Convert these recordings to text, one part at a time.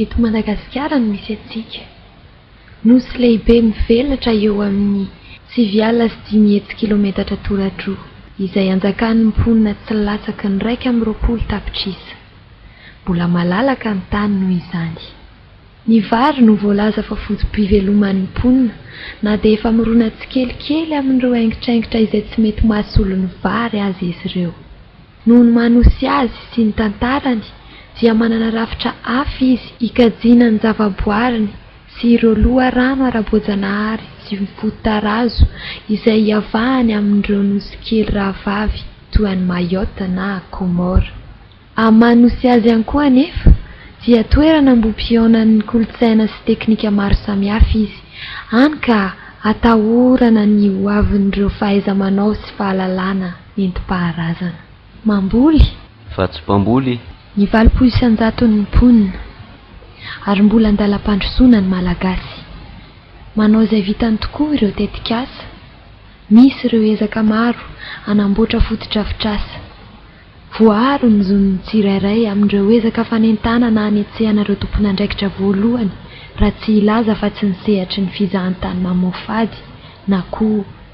Eto Madagasikara no misy antsika. Nosy lehibe mivelatra eo amin'ny sivy alina sy dimy hetsy kilometatra toradroa izay anjakan'ny mponina tsy latsaky ny iraika amby roapolo tapitrisa. Mbola malalaka ny tany noho izany. Ny vary no voalaza fa foto-piveloman'ny mponina na dia efa mirona tsikelikely amin'ireo aingitraingitra izay tsy mety mahasolo ny vary aza izy ireo. Noho ny maha Nosy azy sy ny tantarany dia manana rafitra hafa izy hikajiana ny zavaboariny sy ireo loharano ara-boajanahary sy fototarazo izay hiavahany amin'ireo nosy kely rahavavy toa an'i Mayotte na Comores. Amin'ny maha Nosy azy ihany koa anefa dia toerana ambohipihaonan'ny kolontsaina sy teknika maro samihafa izy, hany ka atahorana ny hoavin'ireo fahaiza-manao sy fahalalana. Nentim-paharazana. Mamboly. Fa tsy mpamboly. Ny valopolo sy an-jaton'ny mponina. Ary mbola an-dalam-pandrosoana ny Malagasy. Manao izay vitany tokoa ireo tetikasa. Misy ireo ezaka maro hanamboatra fotodrafitrasa. Voaaro ny zon'ny tsirairay amin'ireo ezaka fanentanana hanetsehana ireo tompon'andraikitra voalohany raha tsy hilaza afa-tsy ny sehatry ny fizahantany mamoafady na koa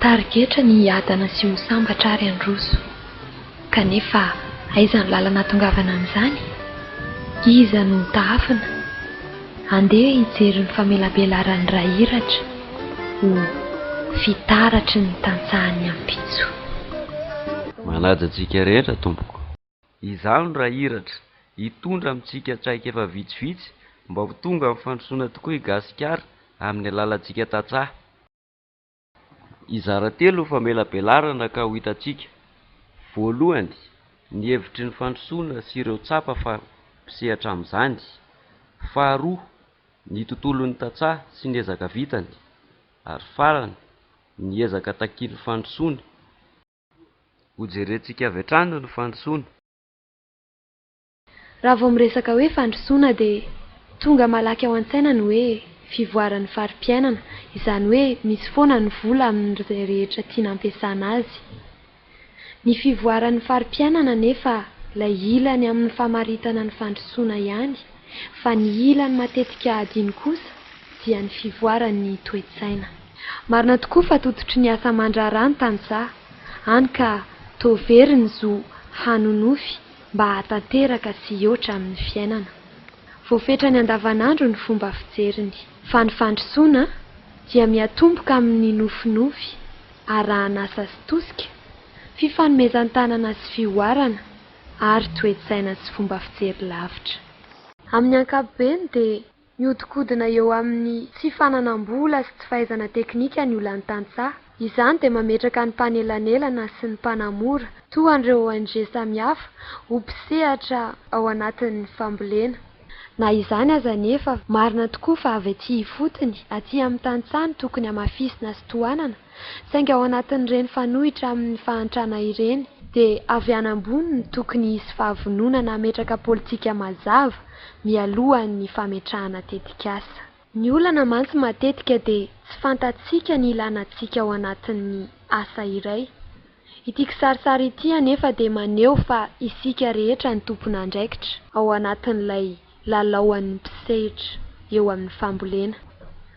Tarigetra ny hiadana sy ho sambatra ary handroso. Kanefa aiza ny lalana ahatongavana amin'izany? Iza no ho tahafina? Andeha hijery ny famelabelaran'ny ra iratra ho fitaratry ny tantsahan'ny ampitso. Manaja antsika rehetra Tompoko. Izaho no ra iratra, hitondra amintsika traikefa vitsivitsy mba ho tonga amin'ny fandrosoana tokoa i Gasikara amin'ny alalantsika tantsaha. Hizara telo ny famelabelarana ka ho hitantsika. Voalohany, ny hevitry ny fandrosoana sy ireo tsapa fa mpisehatra amin'izany. Faharoa, ny tontolon'ny tantsaha sy ny ezaka vitany. Ary farany, ny ezaka takian'ny fandrosoana. Hojerentsika avy hatrany ny fandrosoana. Raha vao miresaka hoe fandrosoana dia tonga malaky ao an-tsaina ny hoe fivoaran'ny fari-piainana, izany hoe misy foana ny vola amin'izay rehetra tiana ampiasana azy. Ny fivoaran'ny fari-piainana anefa ilay ilany amin'ny famaritana ny fandrosoana ihany fa ny ilany matetika adino kosa dia ny fivoaran'ny toe-tsaina. Marina tokoa fa tototry ny asa aman-draharaha ny tantsaha, hany ka toa very ny zo hanonofy mba hahatanteraka sy hihoatra amin'ny fiainana. Voafetrany andavanandro ny fomba fijeriny, fa ny fandrosoana dia miatomboka amin'ny nofinofy arahan'asa sy tosika, fifanomezan-tanana sy fihoarana, ary toe-tsaina sy fomba fijery lavitra. Amin'ny ankapobeny dia Mihodinkodina eo amin'ny tsy fananam-bola sy tsy fahaizana teknika ny olan'ny tantsaha. Izany dia mametraka ny mpanelanelana sy ny mpanamora, toa an'ireo ONG samihafa, ho mpisehatra ao anatin'ny fambolena. Na izany aza anefa, marina tokoa fa avy aty ifotony, aty amin'ny tantsaha no tokony hamafisina sy tohanana, Saingy ao anatin'ireny fanohitra amin'ny fahantrana ireny, dia avy any ambony no tokony hisy fahavononana hametraka politika mazava mialohan'ny fametrahana tetikasa. Ny olana mantsy matetika dia tsy fantatsika ny ilana antsika ao anatin'ny asa iray. Ity kisarisary ity anefa dia maneho fa isika rehetra no tompon'andraikitra ao anatin'ilay lalaoan'ny mpisehitra eo amin'ny fambolena.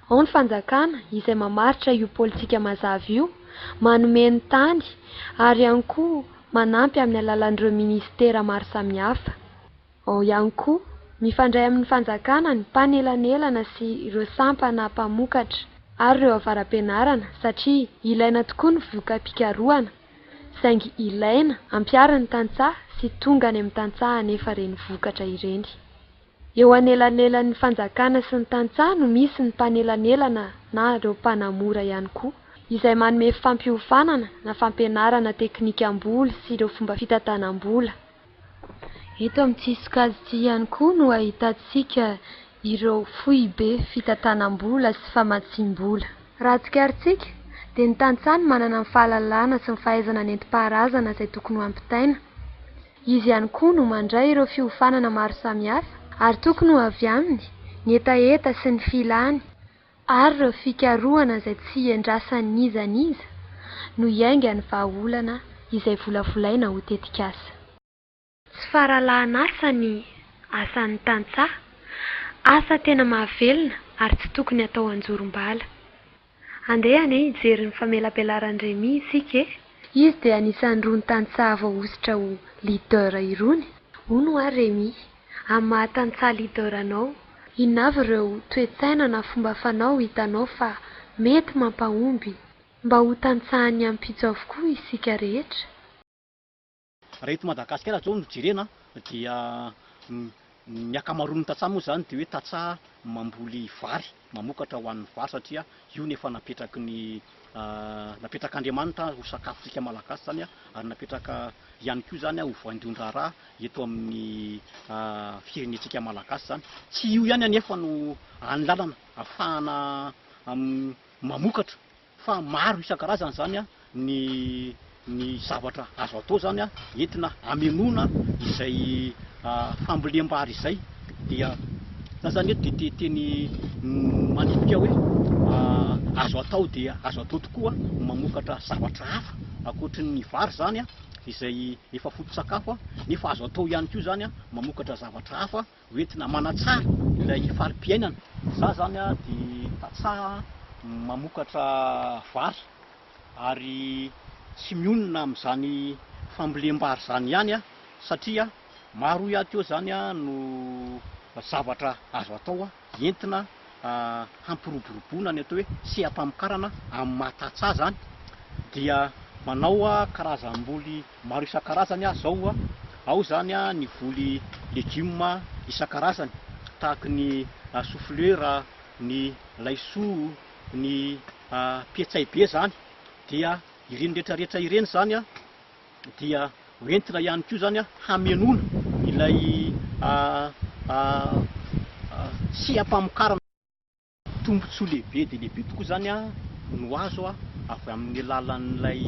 Ao ny fanjakana izay mamaritra io politika mazava io, manome ny tany ary ihany koa manampy amin'ny alalan'ireo minisitera maro samihafa. Ao ihany koa, mifandray amin'ny fanjakana ny mpanelanelana sy ireo sampana mpamokatra ary ireo avara-pianarana satria ilaina tokoa ny voka-pikarohana saingy ilaina ampiharin'ny tantsaha sy tonga any amin'ny tantsaha anefa ireny vokatra ireny. Eo anelanelan'ny fanjakana sy ny tantsaha no misy ny mpanelanelana na ireo mpanamora ihany koa izay manome fampiofanana na fampianarana teknikam-boly sy ireo fomba fitantanam-bola. Eto amin'ity sokajy ity ihany koa no ahitantsika ireo foibe fitantanam-bola sy famatsiam-bola. Raha tsikarintsika dia ny tantsaha no manana ny fahalalana sy ny fahaizana nentim-paharazana izay tokony ho ampitaina. Izy ihany koa no mandray ireo fiofanana maro samihafa ary tokony ho avy aminy ny hetaheta sy ny filany. ary ireo fikarohana izay tsy iandrasan'iza n'iza no iaingan'ny vahaolana izay volavolaina ho tetikasa. Tsy faralahan'asa ny asan'ny tantsaha, asa tena mahavelona ary tsy tokony atao an-jorom-bala. Andeha anie hijery ny famelabelaran'i Remy isika e! Izy dia anisan'irony tantsaha voahosotra ho leader irony, hono ho'a Remy. amin'ny maha tantsaha leader anao? Inona avy ireo toe-tsaina na fomba fanao hitanao fa mety mampahomby mba ho tantsahan'ny ampitso avokoa isika rehetra? Raha eto Madagasikara izao no jerena dia ny ankamaroan'ny tantsaha moa izany dia hoe tantsaha mamboly vary, mamokatra ho an'ny vary satria io no efa napetraky ny napetrak'Andriamanitra ho sakafontsika Malagasy izany ary napetraka ihany koa izany ho voaindon-draharaha eto amin'ny firenentsika malagasy izany. Tsy io ihany anefa no hany lalana hahafahana mamokatra fa maro isan-karazany izany ny ny zavatra azo atao izany entina hamenoana izay fambolem-bary izay dia za zany eto dia teny manipika hoe azo atao dia azo atao tokoa mamokatra zavatra hafa ankoatry ny vary izany izay efa foto-tsakafo nefa azo atao ihany koa izany mamokatra zavatra hafa ho entina manatsara ilay fari-piainana. Izaho izany dia tantsaha mamokatra vary ary tsy mionona amin'izany fambolem-bary izany ihany aho satria maro ihany koa izany no zavatra azo atao. entina hampiroboroboana ny atao hoe seha-pamokarana amin'ny maha tatsy azy an, dia manao karazam-boly maro isan-karazany aho izao an, ao izany ny voly legioma isan-karazany tahaka ny soflera, ny laisoa, ny petsay be izany, dia ireny rehetra rehetra ireny izany an, dia ho entina ihany koa izany hamenoana ilay seha-pamokarana. Tombontsoa lehibe dia lehibe tokoa izany no azo avy amin'ny alalan'ilay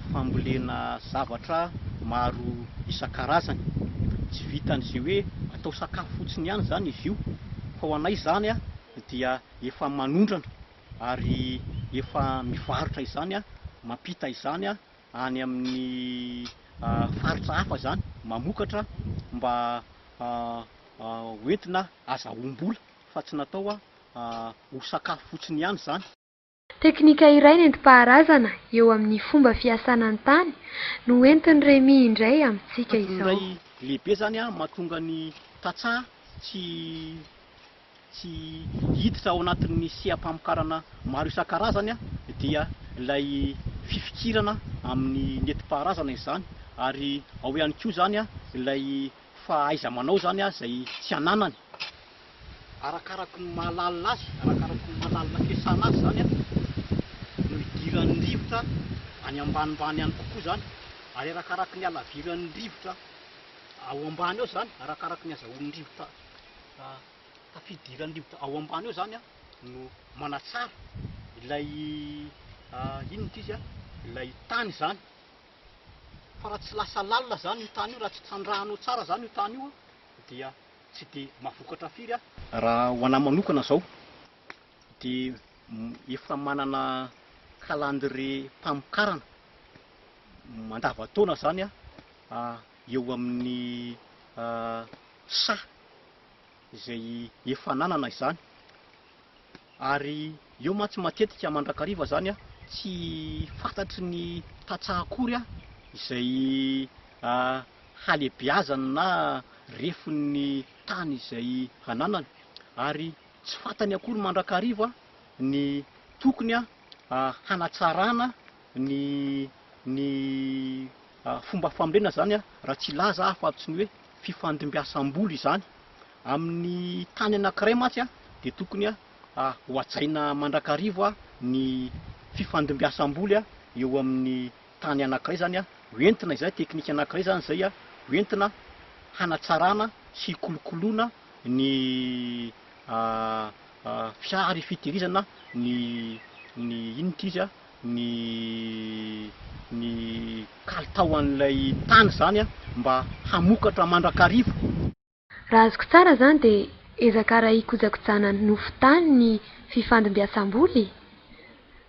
fambolena zavatra maro isan-karazany. Tsy vitan'izay hoe atao sakafo fotsiny ihany izany izy io fa ho anay izany dia efa manondrana ary efa mivarotra izany, mampita izany. any amin'ny faritra hafa izany mamokatra mba hoentina azahoam-bola fa tsy natao ho sakafo fotsiny ihany izany. Teknika iray nentim-paharazana eo amin'ny fomba fiasana ny tany no hoentin'i Remy indray amintsika izao. Tadidio iray lehibe izany mahatonga ny tantsaha tsy. tsy hiditra ao anatin'ny seha-pamokarana maro isan-karazany dia ilay fifikirana amin'ny nentim-paharazana izany ary ao ihany koa izany ilay fahaiza-manao izany izay tsy ananany arakaraky ny maha-lalina azy, arakaraky ny maha-lalina fiasana azy izany no idiran'ny rivotra any ambanimbany any kokoa izany ary arakaraky ny halaviran'ny rivotra ao ambany ao izany, arakaraky ny hazahoan'ny rivotra. tafidiran'ny rivotra ao ambany ao zany no manatsara ilay inona moa izy ilay tany zany fa raha tsy lasa lalina zany io tany io raha tsy trandrahanao tsara zany io tany io dia tsy de mavokatra firy an raha ho anahy manokana zao de efa manana calendrier mpamokarana mandavantaona zany an eo amin'ny saha izay efa ananana izany ary eo mantsy matetika mandrakariva izany tsy fantatry ny tantsaha akory izay halehibeazany na refon'ny tany izay ananany ary tsy fantany akory mandrakariva ny tokony hanatsarana ny ny fomba famrena izany raha tsy hilaza aho fa tsy ny hoe fifandimbiasam-bola izany. Amin'ny tany anankiray mantsy dia tokony ho hajaina mandrakariva ny fifandimbiasam-boly eo amin'ny tany anankiray izany ho entina izay teknika anankiray izany izay ho entina hanatsarana sy hikolokoloana ny fiara ifitehirizana ny ny inona ity izy. ny ny kalitao an'ilay tany zany mba hamokatra mandrakariva. Raha azoko tsara zany de ezaka ara hikojakojana nofo tany ny fifandimbiasamboly?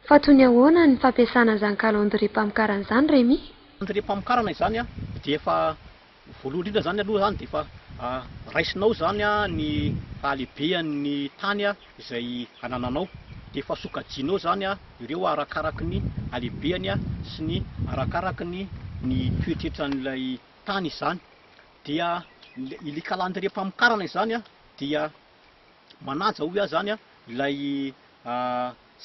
Fa toy ny ahoana ny fampiasana an'izany calendrier mpamokarana izany Remy? Calendrier mpamokarana izany dia efa Voalohany indrindra izany aloha izany dia efa raisinao izany ny fahalehibehan'ny tany izay anananao, dia efa sokajianao izany ireo arakaraky ny halehibehany sy ny arakaraky ny ny toetretran'ilay tany izany, dia ilay kalandrie-pamokarana izany dia. manaja hoy aho izany ilay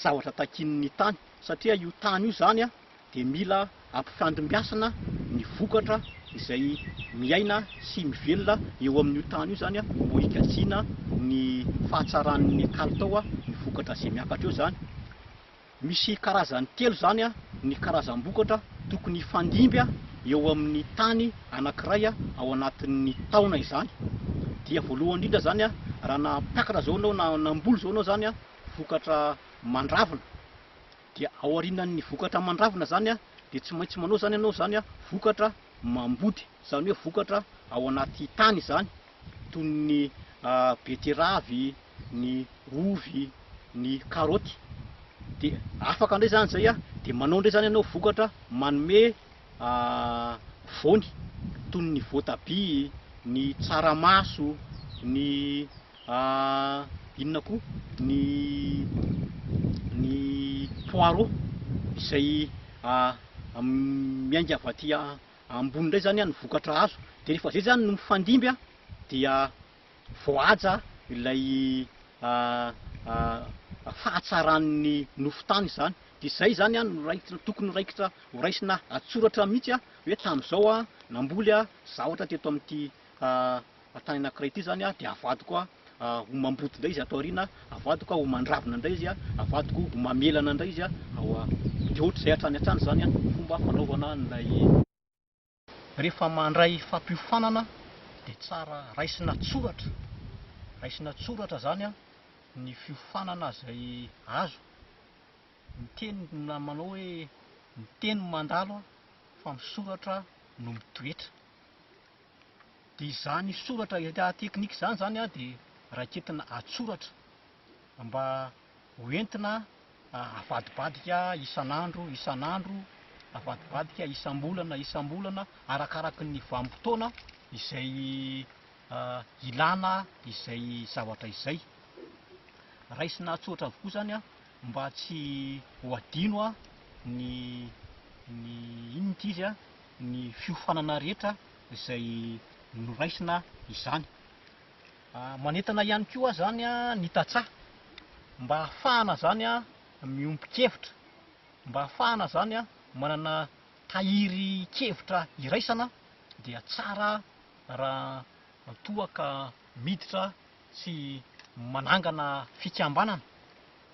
zavatra takian'ny tany satria io tany io izany dia mila ampifandimbiasana ny vokatra izay miaina sy mivelona eo amin'io tany io izany mba higatsiana ny fahatsaran'ny kalitao ny vokatra izay miakatra eo izany. Misy karazany telo izany ny karazam-bokatra tokony hifandimby eo amin'ny tany anankiray ao anatin'ny taona izany. Dia voalohany indrindra izany, raha nampiakatra izao ianao na namboly izao ianao izany, vokatra mandravina. Dia ao aorianan'ny vokatra mandravina izany dia tsy maintsy manao izany ianao izany vokatra mambody, izany hoe vokatra ao anaty tany izany. toy ny betiravy, ny ovy, ny karaoty de afaka ndray zany zay de manao ndray zany ianao vokatra manome voany toy ny voatabia, ny tsaramaso, ny inona koa ny ny poireau izay miainga avy aty. ambony indray zany ny vokatra azo de rehefa zay zany no mifandimby dia voahaja ilay fahatsaran'ny nofo tany zany de zay zany no raikitra tokony raikitra ho raisina an-tsoratra mihitsy hoe tamin'izao aho namboly zavatra teto amin'ity tany anankiray ity izany dia avadiko ho mamboty indray izy ato aoriana, avadiko ho mandravina indray izy, avadiko ho mamelana indray izy, dia ohatr'izay hatrany hatrany izany ny fomba fanaovana an'ilay. Rehefa mandray fampiofanana dia tsara raisina tsoratra, raisina tsoratra izany ny fiofanana izay azo, ny teny manao hoe ny teny mandalo fa ny soratra no mitoetra. Dia izany soratra état technique izany izany dia raiketina an-tsoratra mba ho entina avadibadika isan'andro isan'andro, avadibadika isam-bolana isam-bolana arakaraky ny vanim-potoana izay ilana izay zavatra izay. Raisina an-tsoratra avokoa izany mba tsy ho adino ny ny inona ity izy. ny fiofanana rehetra izay noraisina izany. Manentana ihany koa izany ny tantsaha mba hahafahana izany miombon-kevitra, mba hahafahana izany manana tahirin-kevitra iraisana dia tsara raha toa ka miditra sy manangana fikambanana.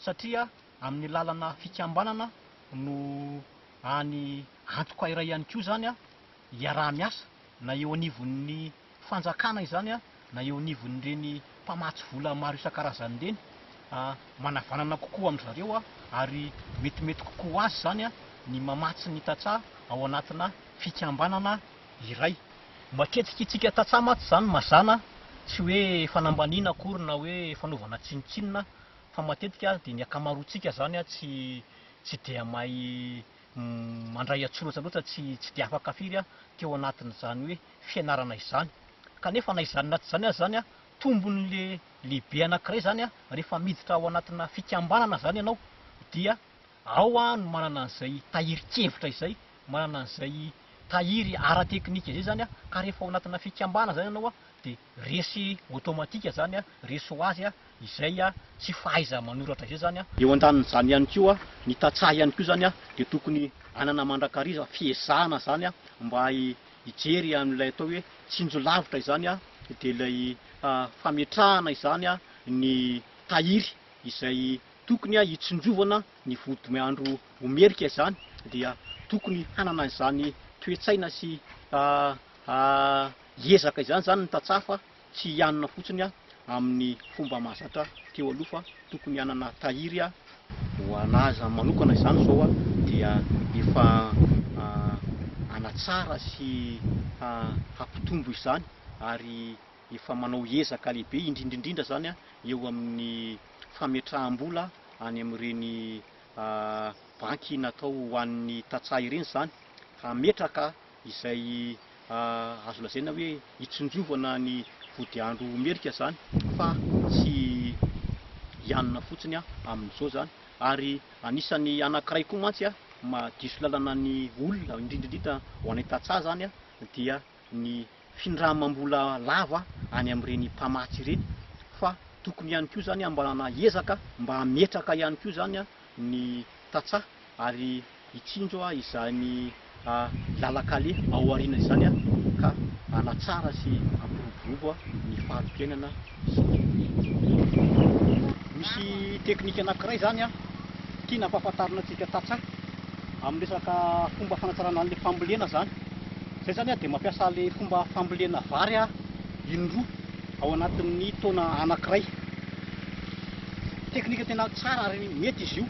satria amin'ny lalana fikambanana no any antoka iray ihany koa izany hiaraha-miasa na eo anivon'ny fanjakana izany na eo anivon'ireny mpamatsy vola maro isan-karazany ireny, manavanana kokoa amin-dry zareo ary metimety kokoa ho azy izany ny mamatsy ny tantsaha ao anatina fikambanana iray. Matetika isika tantsaha mantsy izany mazàna, tsy hoe fanambaniana akory na hoe fanaovana tsinontsinona, fa matetika dia ny akamaroantsika izany tsy tsy dia mahay mandray an-tsoratra loatra, tsy tsy dia afaka firy teo anatin'izany hoe fianarana izany. Kanefa na izany na tsy izany aza izany, tombony le lehibe anankiray izany rehefa miditra ao anatina fikambanana izany ianao dia ao no manana an'izay tahirin-kevitra izay, manana an'izay tahiry ara-teknika izay izany ka rehefa ao anatina fikambanana izany ianao dia resy automatique zany a, resy ho azy izay tsy fahaiza manoratra izay zany a. Eo andanin'izany ihany koa, ny tantsaha ihany koa zany a, dia tokony hanana mandrakariva fiezahana zany a, mba hijery an'ilay atao hoe tsinjo lavitra izany a, dia ilay fametrahana izany a, ny tahiry izay tokony a hitsinjovana ny vodiandro ho merika izany, dia tokony hanana izany toe-tsaina sy a. Hiezaka izany izany ny tantsaha fa tsy hianina fotsiny amin'ny fomba mahazatra teo aloha fa tokony hanana tahiry ho an'azy manokana izany izao dia efa hanatsara sy hampitombo izany ary efa manao ezaka lehibe indrindra indrindra izany eo amin'ny fametraham-bola any amin'ireny banky natao ho an'ny tantsaha ireny izany hametraka izay azo lazaina hoe hitsinjovana ny vodiandro merika izany fa tsy hianona fotsiny amin'izao izany ary anisan'ny anankiray koa mantsy mahadiso lalana ny olona indrindrindrindra ho anay tantsaha izany dia ny findramam-bola lava any amin'ireny mpamatsy ireny fa tokony ihany koa izany mba hanana ezaka mba hametraka ihany koa izany ny tantsaha ary hitsinjo izany lalan-kaleha ao aoriana izany ka hanatsara sy hampiroborobo ny fari-piainana sy ny olombelona. Misy teknika anankiray izany tiana hampahafantarina antsika tantsaha amin'ny resaka fomba fanatsarana an'ilay fambolena izany. Izay izany dia mampiasa ilay fomba fambolena vary indroa. ao anatin'ny taona anankiray. Teknika tena tsara ary mety izy io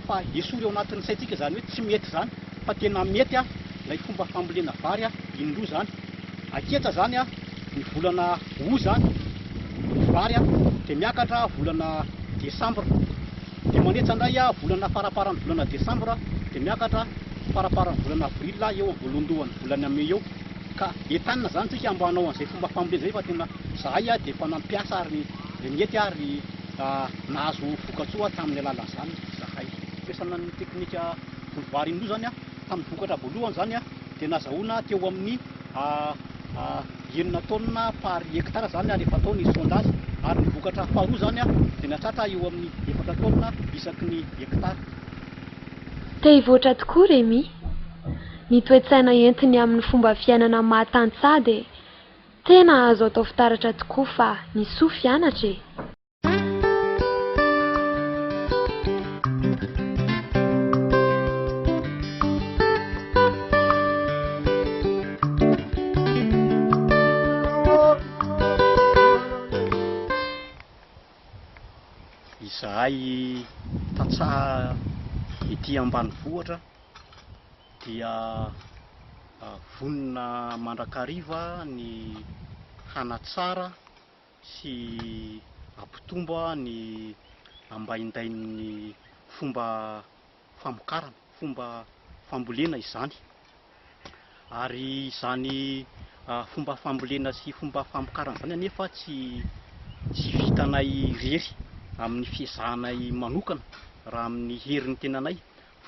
fa esory ao anatin'ny saintsika izany hoe tsy mety izany fa tena mety ilay fomba fambolena vary indroa izany. Aketsa izany ny volana août izany ny vary dia miakatra volana desambra dia manetsa indray volana faraparan'ny volana desambra dia miakatra faraparan'ny volana avril eo amin'ny voalohandohan'ny volana mey eo. Ka entanina zany tsika mba hanao an'izay fomba fambolena zay fa tena zahay a de efa nampiasa ary nety ary nahazo vokatsoa tamin'ny alalan'izany zahay. Fampiasana ny teknika voly vary indroa zany a tamin'ny vokatra voalohany zany a de nazahoana teo amin'ny enina taonina par hectare zany a rehefa atao ny sondage ary ny vokatra faharoa zany a de nahatratra eo amin'ny efatra taonina isaky ny hectare. Te hivoatra tokoa Remy? Ny toe-tsaina entiny amin'ny fomba fiainana mahatantsaha dia tena azo atao fitaratra tokoa fa ny soa fianatra e! Izahay tantsaha ety ambanivohitra. dia vonona mandrakariva ny hanatsara sy hampitombo ny ambaindain'ny fomba famokarana, fomba fambolena izany. Ary izany fomba fambolena sy fomba famokarana izany anefa tsy tsy vitanay irery amin'ny fiezahanay manokana raha amin'ny herin'ny tenanay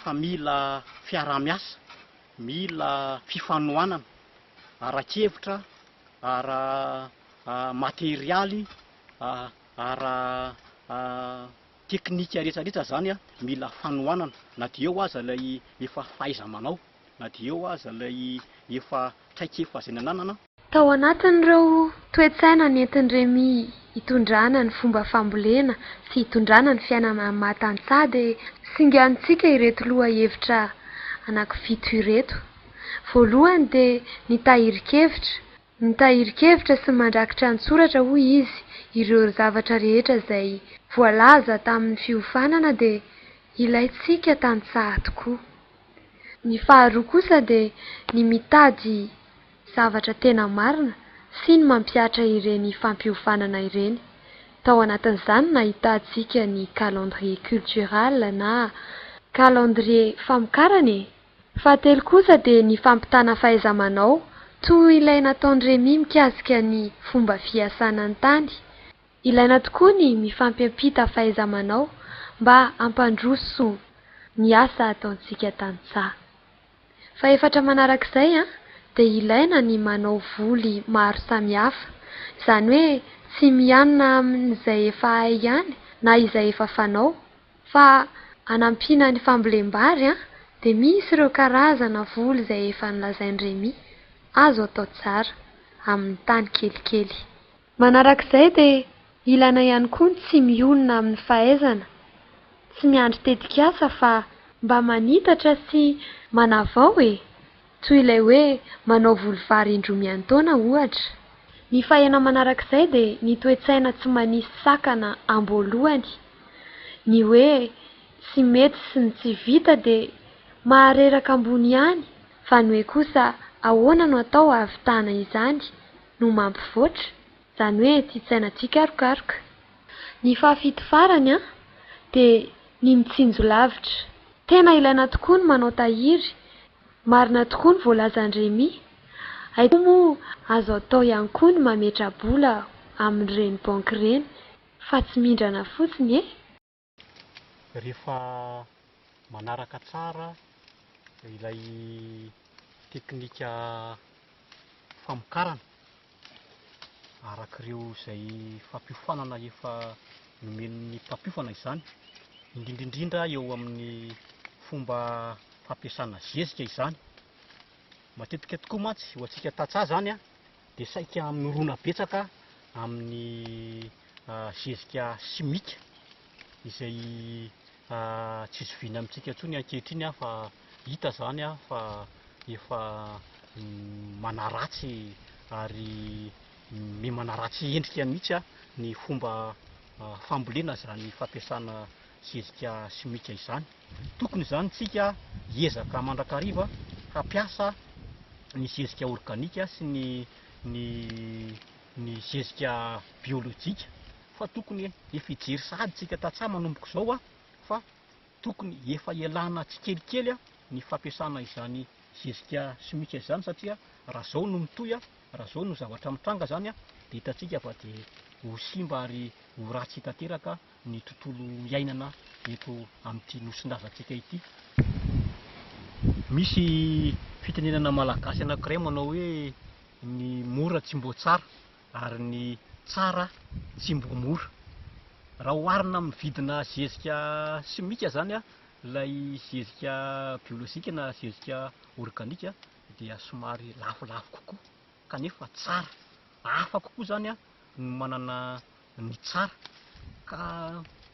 fa mila fiaraha-miasa, mila fifanohanana ara-kevitra, ara-materialy, ara-teknika rehetrarehetra izany mila fanohanana na dia eo aza ilay efa fahaiza-manao, na dia eo aza ilay efa traikefa izay nananana Tao anatin'ireo toe-tsaina nentin'i Remy hitondrana ny fomba fambolena sy hitondrana ny fiainana maha tantsaha dia singanintsika ireto lohahevitra anankifito ireto. Voalohany dia ny tahirin-kevitra, ny tahirin-kevitra sy ny mandrakitra an-tsoratra hoy izy ireo zavatra rehetra izay voalaza tamin'ny fiofanana dia ilaintsika tantsaha tokoa. Ny faharoa kosa dia ny mitady Zavatra tena marina sy ny mampihatra ireny fampiofanana ireny. Tao anatin'izany no ahitantsika ny calendrier cultural na calendrier famokarana e! Fahatelo kosa dia ny fampitana fahaiza-manao toa ilay nataon'i Remy mikasika ny fomba fiasana ny tany. Ilaina tokoa ny mifampiampita fahaiza-manao mba hampandroso ny asa ataontsika tantsaha. Fahefatra manarak'izay dia ilaina ny manao voly maro samihafa, izany hoe tsy mianina amin'izay efa hay ihany na izay efa fanao fa anampiana ny fambolem-bary dia misy ireo karazana voly izay efa nolazain'i Remy azo atao tsara amin'ny tany kelikely. Manarak'izay dia ilaina ihany koa ny tsy mionona amin'ny fahaizana, tsy miandry tetikasa fa mba manitatra sy manavao e! toy ilay hoe manao voly vary indroa miantaona ohatra. Ny fahena manarak'izay dia ny toe-tsaina tsy manisy sakana amboalohany, ny hoe tsy mety sy ny tsy vita dia mahareraka ambony ihany fa ny hoe kosa ahoana no atao hahavitana izany? no mampivoatra, izany hoe tia tsaina tia karokaroka. Ny fahafito farany an, dia ny mitsinjo lavitra. Tena ilaina tokoa ny manao tahiry, marina tokoa ny voalazan'i Remy. Aiza moa azo atao ihany koa ny mametra-bola amin'ireny banky ireny fa tsy mindrana fotsiny e! rehefa manaraka tsara ilay teknika famokarana arak'ireo izay fampiofanana efa nomen'ny mpampiofana izany, indrindra indrindra eo amin'ny fomba fampiasana zezika izany. Matetika tokoa mantsy ho antsika tantsaha izany an! dia saika mirona betsaka amin'ny zezika simika izay tsy zoviana amintsika intsony ankehitriny fa hita izany fa efa manaratsy ary miha manaratsy endrika mihitsy ny fomba fambolena izany fampiasana zezika simika izany. Tokony izany isika hiezaka mandrakariva hampiasa ny zezika organika sy ny ny ny zezika biolojika fa tokony efa hijery sahady isika tantsaha manomboka izao fa tokony efa hialana tsikelikely ny fampiasana izany zezika simika izany satria raha izao no mitohy, raha izao no zavatra mitranga izany dia hitantsika fa dia ho simba ary ho ratsy tanteraka ny tontolo iainana eto amin'ity nosin-dRazatsika ity. Misy fitenenana malagasy anankiray manao hoe ny mora tsy mbo tsara ary ny tsara tsy mbo mora. Raha oharina amin'ny vidina zezika simika izany ilay zezika biolojika na zezika organika dia somary lafolafo kokoa kanefa tsara. Hafa kokoa izany no manana no tsara ka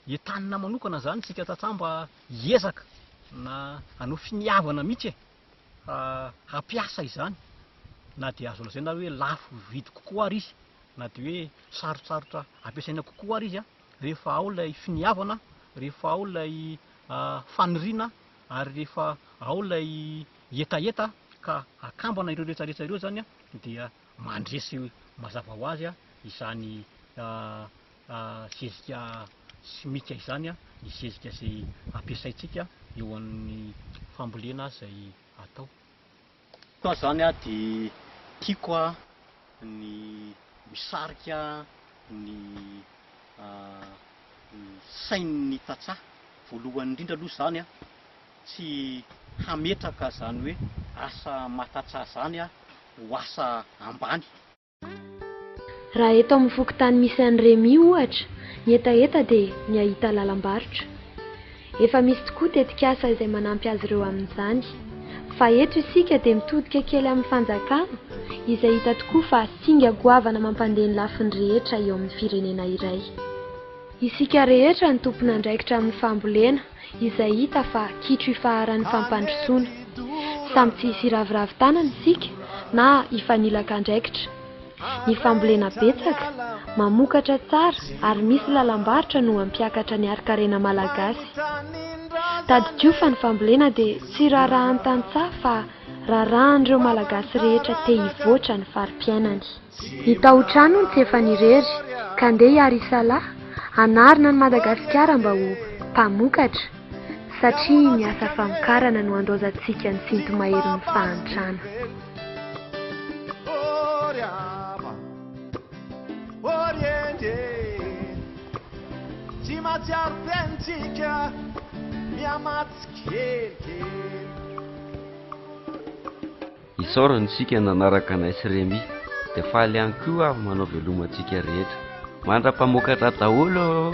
entanina manokana izany isika tantsaha mba hiezaka na hanao finiavana mihitsy e fa hampiasa izany na dia azo lazaina ary hoe lafo vidy kokoa ary izy na dia hoe sarotsarotra ampiasaina kokoa ary izy a rehefa ao ilay finiavana rehefa ao ilay faniriana ary rehefa ao ilay hetaheta ka akambana ireo rehetrarehetra ireo izany dia mandresy mazava ho azy izany zezika simika izany, ny zezika izay ampiasaintsika eo amin'ny fambolena izay atao. Koa izany dia tiako ny misarika ny sain'ny tantsaha, voalohany indrindra aloha izany tsy hametraka izany hoe asa matatsa izany ho asa ambany. Raha eto amin'ny fokontany misy an'i Remy ohatra, ny hetaheta dia ny hahita lalam-barotra. Efa misy tokoa tetikasa izay manampy azy ireo amin'izany. Fa eto isika dia mitodika kely amin'ny fanjakana izay hita tokoa fa singa goavana mampandeha ny lafiny rehetra eo amin'ny firenena iray. Isika rehetra no tompon'andraikitra amin'ny fambolena. izay hita fa kitro ifaharan'ny fampandrosoana. Samy tsy hiraviravy tanana isika na hifanilaka andraikitra. Ny fambolena betsaka, mamokatra tsara ary misy lalam-barotra no hampiakatra ny harin-karena malagasy. Tadidio fa ny fambolena dia tsy raharahan'ny tantsaha fa raharahan'ireo Malagasy rehetra te hivoatra ny fari-piainany. I Tahotra hono tsy efa nirery ka ndeha hiaro i Salah hanarina an'i Madagasikara mba ho mpamokatra satria ny asa famokarana no andaozantsika ny sinto-maherin'ny fahantrana. Isaorana isika nanaraka anay sy Remy dia faly ihany koa aho manao veloma antsika rehetra. Mandra-pamokatra daholo ô!